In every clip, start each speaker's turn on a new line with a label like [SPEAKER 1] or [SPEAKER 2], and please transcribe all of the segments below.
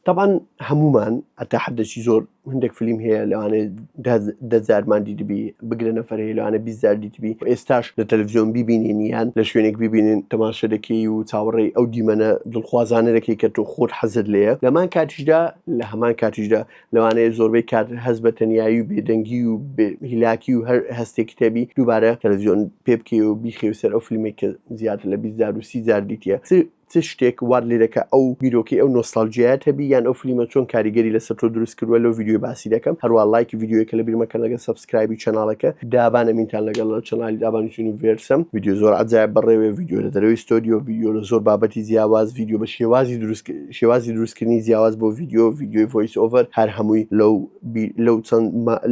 [SPEAKER 1] تەبعەن هەموومان هەتا حدەکی زۆر هندێک فلیم هەیە لەوانێ دەزارمان دیدبی بگرە نەفر هەیە لەوانە بیزار دیتبی ئێستاش لە تەلەڤزیۆن ببینین یان لە شوێنێک ببینین تەماشە دەکەی و چاوەڕێی ئەو دیمەنە دڵخوازانە دەکەی کە تۆ خۆت حەزت لێە لەمان کاتیشدا لە هەمان کاتیشدا لەوانەیە زۆربەی کات هەز بە تەنایی و بێدەنگی و هیلاکی و هەر هەستێک کتێبی دووبارە تەلەڤزیۆن پێ بکەی و بیخێ سەر ئەو فیلمێک کە زیاتر لە بیزار و سی زار دیتە چ شتێک وات لێدەکا ئەو بیرۆکەی ئەو نۆستالجیایەت هەبی یان ئەو فلیمە چۆن کاریگەری لەسەر تۆ دروست کردوە لەو ڤیدیۆی باسی دەکەم هەروا ڵایکی ڤیدیۆیەکە لەبیر مەکەن لەگەر سەبسکرایبی چەناڵەکە دابان ئەمینتان لەگەڵ چەنالی دابان یونیڤێرسم ڤیدیۆ زۆر عەجایب بەڕێوێ ڤیدیۆ لە دەرەوەی ستۆدیۆ ڤیدیۆ لە زۆر بابەتی جیاواز ڤیدیۆ بە شێوازی دروست شێوازی دروستکردنی جیاواز بۆ ڤیدیۆ ڤیدیۆی ڤۆیس ئۆڤەر هەر هەمووی لەو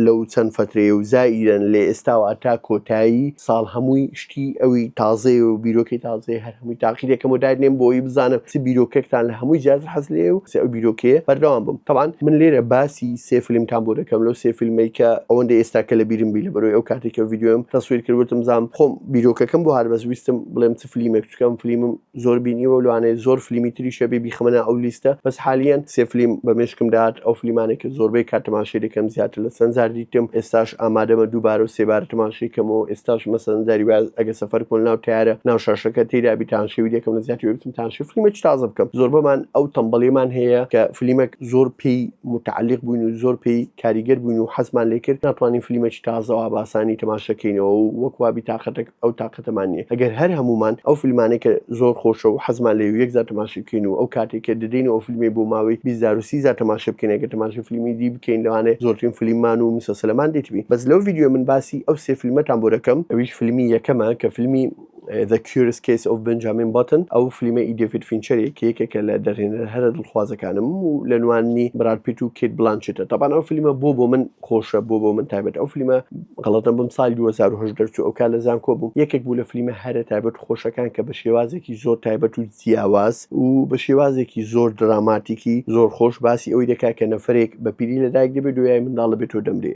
[SPEAKER 1] لەو چەند فەترەیە و زائیرەن لە ئێستاوە تا کۆتایی ساڵ هەمووی شتی ئەوی تازەیە و بیرۆکەی تازەیە هەر هەمووی تاقیێکەکەم و دادنێم بۆی بزانم چ بیرۆکەکتان لە هەمووی جیاز حەز لێ و سێ ئەو بیرۆکەیە بەردەوام بم تەوان من لێرە باسی سێ فیلمتان بۆ دەکەم لەو سێ فیلمی کە ئەوەندە ئێستا کە لە بیرم بی لە بەرەوەی ئەو کاتێکە ڤیددیوم تەسویر کردوتم زانام خۆم بیرۆکەکەم بۆ هەربەست ویستم بڵێم چ فلیمێک چکەم فلیمم زۆر بینیوە لەوانەیە زۆر فلیمی تریش هەبێ بیخەمە ناو ئەو لیستە بەس حالیەن سێ فلیم بە مێشکم دات ئەو فلیمانێک کە زۆربەی کات تەماشەی دەکەم زیاتر لە چەند جار دیتم ئێستاش ئامادەمە دووبارە و سێبارە تەماشەی کەمەوە ئێستاش مەسەن جاری وایە ئەگەر سەفەر بکەم لەناو تەیارە ناو شاشەکە تێیدا بی تانشەوی دەکەم لە زیاتر بێ بچم تانشەی فلیمێکی تازە بکەم زۆربەمان ئەو تەمبەڵیەمان هەیە کە فلیمێک زۆر پێی متعەلیق بووین و زۆر پێی کاریگەر بووین و حەزمان لێ کرد ناتوانین فلیمەکی تازە و ئاباسانی تەماشە کەینەوە و وەک وا بی تاقەتەک ئەو تاقەتەمان نیە ئەگەر هەر هەموومان ئەو فلمانەی کە زۆر خۆشە و حەزمان لێی و یەک جار تەماشی بکەین و ئەو کاتەی کە دەدەین و ئەو فلمەی بۆ ماوەی بیست جار و سی جار تەماشە بکەین ئەگەر تەماشەی فلیمی دی بکەین لەوانەیە زۆرترین فلیممان و مسەسەلەمان دیتبین بەس لەو ڤیدیۆیە من باسی ئەو سێ فلمەتان بۆ دەکەم ئەویش فلمی یەکەمە کە فلمی The Curious Case of Benjamin Button ئەو فلیمە ئی دێڤید فینچەرێ کە یەکێکە لە دەرهێنەرە هەرە دڵخوازەکانم و لە نوانی براد پیت و کیت بلانچێتە تابان ئەو فلیمە بۆ بۆ من خۆشە بۆ بۆ من تایبەت ئەو فلیمە غەڵەتە بم ساڵی 2010 دەرچوو ئەو کار لە زانکۆ بووم یەکێک بوو لە فلیمە هەرە تایبەت و خۆشەکان کە بە شێوازێکی زۆر تایبەت و جیاواز و بە شێوازێکی زۆر دراماتیکی زۆر خۆش باسی ئەوی دەکات کە نەفرێک بە پیری لە دایک دەبێت دوای منداڵ دەبێت و دەمرێ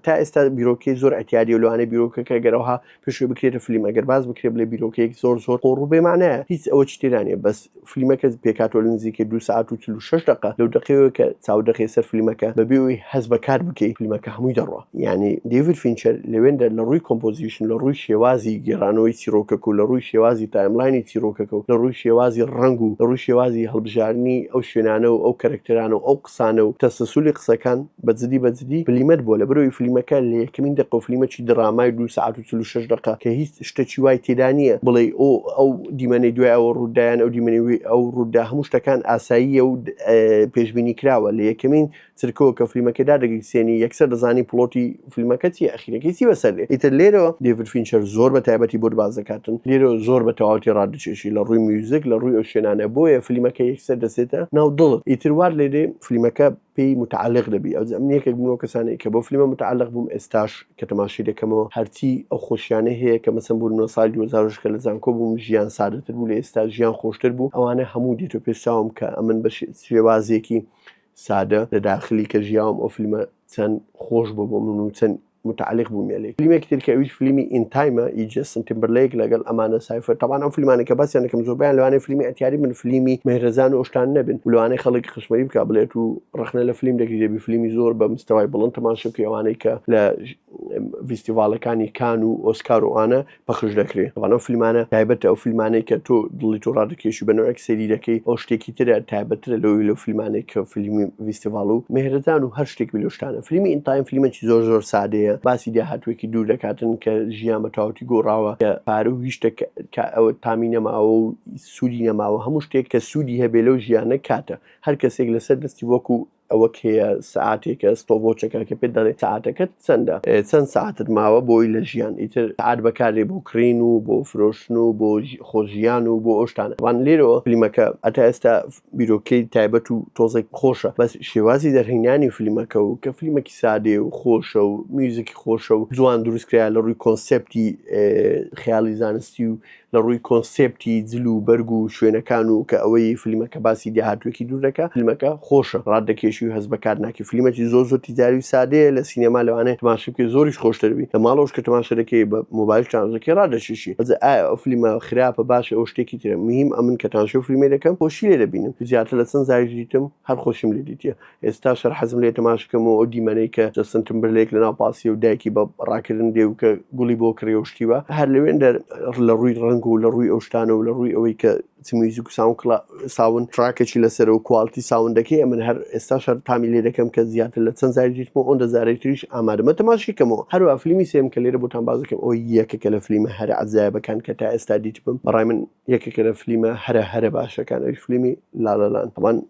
[SPEAKER 1] تا ئێستا بیرۆکەی زۆر ئەتیادی و لەوانەیە بیرۆکەکە گەرەوها پێشەوەی بکرێتە فلیم ئەگەر باز بکرێت لە بیرۆکەیەک زۆر زۆر قۆڕ و بێمانایە هیچ ئەوە چ تێدانێ بەس فلیمەکە پێکاتۆ لە نزیکە دو ساعت و چل و شەش دقە لەو دقەیەوە کە چاو دەخەی سەر فلیمەکە بەبێ ئەوی هەست بە کات بکەی فلیمەکە هەمووی دەڕوا یانی دەیڤد فینچەر لەوێندا لە ڕووی کۆمپۆزیشن لە ڕووی شێوازی گێڕانەوەی چیرۆکەکە و لە ڕووی شێوازی تایملاینی چیرۆکەکە و لە ڕووی شێوازی ڕەنگ و لە ڕووی شێوازی هەڵبژاردنی ئەو شوێنانە و ئەو کەرەکتەرانە و ئەو ئەفسانە و تەسەسولی قسەکان بە جدی بە جدی بلیمەت بووە لەبەرئەوەی فلیمەکە لە یەکەمین دەقە و فلیمەکی درامای دوو سەعات و چل و شەش دەقە کە هیچ شتەکی وای تێدا نییە بڵێی ئۆ ئەو دیمەنەی دوای ئەوە ڕوودا یان ئەو دیمەنەی وێ ئەو ڕوودا هەموو شتەکان ئاساییە و پێشبینی کراوە لە یەکەمین چرکەوە کە فلیمەکە دادەگەی سێنی یەکسەر دەزانی پڵۆتی فیلمەکە چیە ئەخیرەکەی چی بەسەر دێ ئیتر لێرەوە دێڤد فینچەر زۆر بە تایبەتی بۆت باس دەکاتن لێرەوە زۆر بە تەواوەتی ڕادەکێشی لە ڕووی میوزیک لە ڕووی ئەو شوێنانە بۆیە فلیمەکە یەکسەر دەسێتە ناو دڵت ئیتر وات لێ دێ فلیمەکە پێی متعلق دەبی ئەو ئەم یەکێک بووم لەو کەسانەی کە بۆ فلیمە متعلق بووم ئێستاش کە تەماشای دەکەمەوە هەرچی ئەو خۆشیانەی هەیە کە مەسەن بوون لە ساڵی 2006 کە لە زانکۆ بووم ژیان سادەتر بوو لە ئێستا ژیان خۆشتر بوو ئەوانە هەموو دێتۆ پێش چاوم کە ئەمن بە شێوازێکی سادە لە داخلی کە ژیاوم ئەو فیلمە چەند خۆش بوو بۆ من و چەند متعلق بوو مێلێ فیلمێکی تر کە ئەویش فیلمی ئین تایمە ئی جەستن تیمبرلەیک لەگەڵ ئەماندا سایفەر تەبعەن ئەو فیلمانە کە باسیان دەکەم زۆربەیان لەوانەیە فیلمی ئەتیاری بن فیلمی مەهرەزان و ئەو شتانە نەبن و لەوانەیە خەڵک قشمەری بکا بڵێت و ڕەخنە لە فیلم دەگری دەبی فیلمی زۆر بە مستەوای بڵند تەماشە بکەی ئەوانەی کە لە ڤیستیڤاڵەکانی کان و ئۆسکار و ئانە پەخش دەکرێت بەڵام ئەو فیلمانە تایبەتە ئەو فیلمانەی کە تۆ دڵی تۆ ڕادەکێشی بە نوێک سەیری دەکەی ئەو شتێکی ترە تایبەترە لەوی لەو فیلمانێک کە فیلمی ویستیڤاڵ و مهرەدان و هەر شتێک بلوشتانە فیلمی ئینتایم فیلمێکی زۆر زۆر سادەیە باسی داهاتوێکی دوور دەکاتن کە ژیان بە تاوتی گۆڕاوە کە پارە و هیشتە کە ئەوە تامی نەماوە و سوودی نەماوە هەموو شتێک کە سوودی هەبێ لەو ژیانە کاتە هەر کەسێک لەسەر دەستی وەکو ئەوە کێیە سەعاتێکە ستۆڤۆچەکە کە پێت دەڵێ سەعاتەکەت چەندە چەند سەعاتت ماوە بۆی لە ژیان ئیتر سەعات بەکارێ بۆ کڕین و بۆ فرۆشتن و بۆ خۆژیان و بۆ ئەوشتانە وان لێرەوە فلیمەکە ئەتا ئێستا بیرۆکەی تایبەت و تۆزێک خۆشە بەس شێوازی دەرهینانی فلیمەکە و کە فلیمەکی سادێ و خۆشە و میوزیکی خۆشە و جوان دروستکرا لە ڕووی کۆنسپتی خیاڵی زانستی و لە ڕووی کۆنسێپتی جل و بەرگ و شوێنەکان و کە ئەوەی فلیمەکە باسی دێهاتوێکی دوور دەکا فلیمەکە خۆشە ڕات دەکێشی و هەست بە کات ناکەی فلیمەکی زۆر زۆر تیجاری و سادەیە لە سینەما لەوانەیە تماشای بکەی زۆریش خۆشتر بی لە ماڵەوەش کە تماشا دەکەی بە مۆبایل چارج دەکەی ڕات دەکێشی ئەزێ ئایا ئەو فلیمە خراپە باشە ئەوە شتێکی ترە مهیم ئەمن کە تانشەو فلیمەی دەکەم خۆشی لێ دەبینم زیاتر لە چەند جاریش دیتم هەر خۆشیم لێ دیتیە ئێستا شەر حەزم لێ تەماش کەم و ئەو دیمەنەی کە جەستن تمبرلێک لە ناو پاسیە و دایکی بە ڕاکردن دێ و کە گوڵی بۆ کڕی و شتیوە هەر لەوێن دەر لە ڕووی ڕەنگ و لە ڕووی ئەو شتانە و لە ڕووی ئەوەی کە میوزیک و ساون کڵا ساون تراکێکی لەسەر و کوالتی ساوندەکەی ئەمن هەر ئێستا شەر تامی لێ دەکەم کە زیاتر لە چەند زاری دیتم و ئەوەن دەزارەی تریش ئامادەمە تەماشی کەمەوە هەروە فلیمی سێم کە لێرە بۆتان بازەکەم ئەو یەکەکە لە فلیمە هەر عزایبەکان کە تا ئێستا دیتبم بەڕای من یەکەکە لە فلیمە هەرە هەرە باشەکان ئەوی فلیمی لالەلان هەمان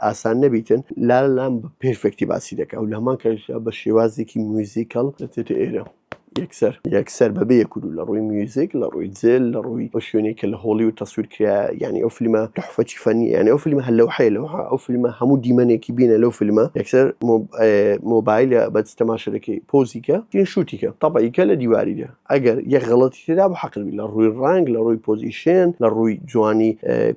[SPEAKER 1] ئاسان نەبیتن لا لام بە پێرفێکتی باسی دەکە و لە هەمان کەشدا بە شێوازێکی میوزیکەڵ دەچێتە ئێرە یەکسەر یەکسەر بەبێ یەکدو لە ڕووی میوزیک لە ڕووی جێل لە ڕووی بە شوێنێک کە لە هۆڵی و تەسویر کرا یعنی ئەو فیلمە تحفەتی فەنی یعنی ئەو فیلمە هەر لەو حەیە لەوها ئەو فیلمە هەموو دیمەنێکی بینە لەو فیلمە یەکسەر مۆبایلە بەس تەماشەکەی پۆزیکە تین شووتیکە تەبعیکە لە دیواریدا ئەگەر یەک غەڵەتی تێدابوو حەقت بی لە ڕووی ڕەنگ، لە ڕووی پۆزیشن، لە ڕووی جوانی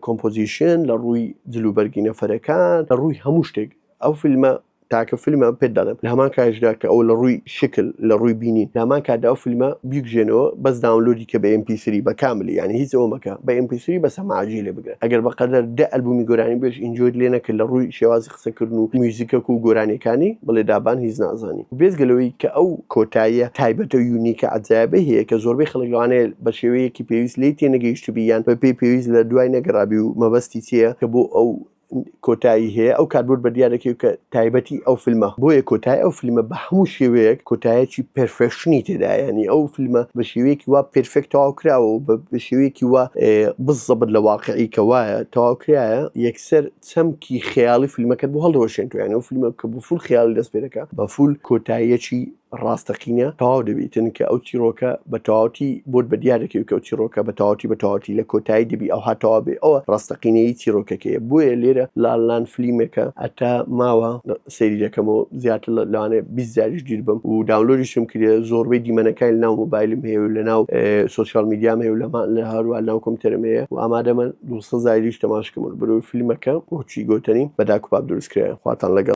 [SPEAKER 1] کۆمپۆزیشن، لە ڕووی جل و بەرگی نەفەرەکان، لە ڕووی هەموو شتێک ئەو فیلمە تاکە فیلمە پێت دەڵێم لە هەمان کاتیشدا کە ئەو لە ڕووی شکل، لە ڕووی بینین لە هەمان کاتدا ئەو فیلمە بیکوژێنەوە بەس داونلۆدی کە بە ئێم پی سری بە کاملی یانی هیچ ئەوە مەکە بە ئێم پی سری بە سەماعەجی لێ بگرە ئەگەر بەقەدەر دە ئەلبوومی گۆرانی بێژ ئینجۆیت لێ نەکرد لە ڕووی شێوازی قسەکردن و میوزیکەک و گۆرانیەکانی بڵێ دابان هیچ نازانی بێجگە لەوەی کە ئەو کۆتاییە تایبەتە و یونیکە عەجایبەی هەیە کە زۆربەی خەڵک لەوانەیە بە شێوەیەکی پێویست لێی تێنەگەیشتبی یان بە پێی پێویست لە دوای نەگەڕابی و مەبەستی چیە کە بۆ ئەو کۆتایی هەیە ئەو کاربرد بە دیار دەکەوێت کە تایبەتی ئەو فیلمە بۆیە کۆتای ئەو فیلمە بە هەموو شێوەیەک کۆتایەکی پێرفێشنی تێدایانی ئەو فیلمە بە شێوەیەکی وا پێرفێک تەواو کراوە و بە شێوەیەکی وا بزەبت لە واقعی کە وایە تەواو کرایە یەکسەر چەمکی خەیاڵی فیلمەکەت بۆ هەڵدەوەشێنێت و یانە و فیلمە کە بۆ فول خەیاڵی دەست پێ دەکات بە فول کۆتاییەکی ڕاستەقینە تەواو دەبیتن کە ئەو چیرۆکە بە تەواوتی بۆت بە دیار دەکەوی کە ئەو چیرۆکە بە تەواوتی بە تەواوتی لە کۆتایی دەبی ئەو هاتەوا بێ ئەوە ڕاستەقینەیی چیرۆکەکەیە بۆیە لێرە لالان فلیمێکە ئەتا ماوە سەیری دەکەمەوە زیاتر لەوانێ بیست جاریش گیر بم و داونلۆریشم کرێ زۆربەی دیمەنەکانی ناو مۆبایلم هەیە و لە ناو سوسیال میدیام هەیە و لەمان لە هەروە ناو کۆمپیوتەرم هەیە و ئامادەمە دوسە زایریش تەماشکم و برۆی فیلمەکە بۆچی گۆتەنی بەداکوباب دروستکرایە خواتان لەگەڵ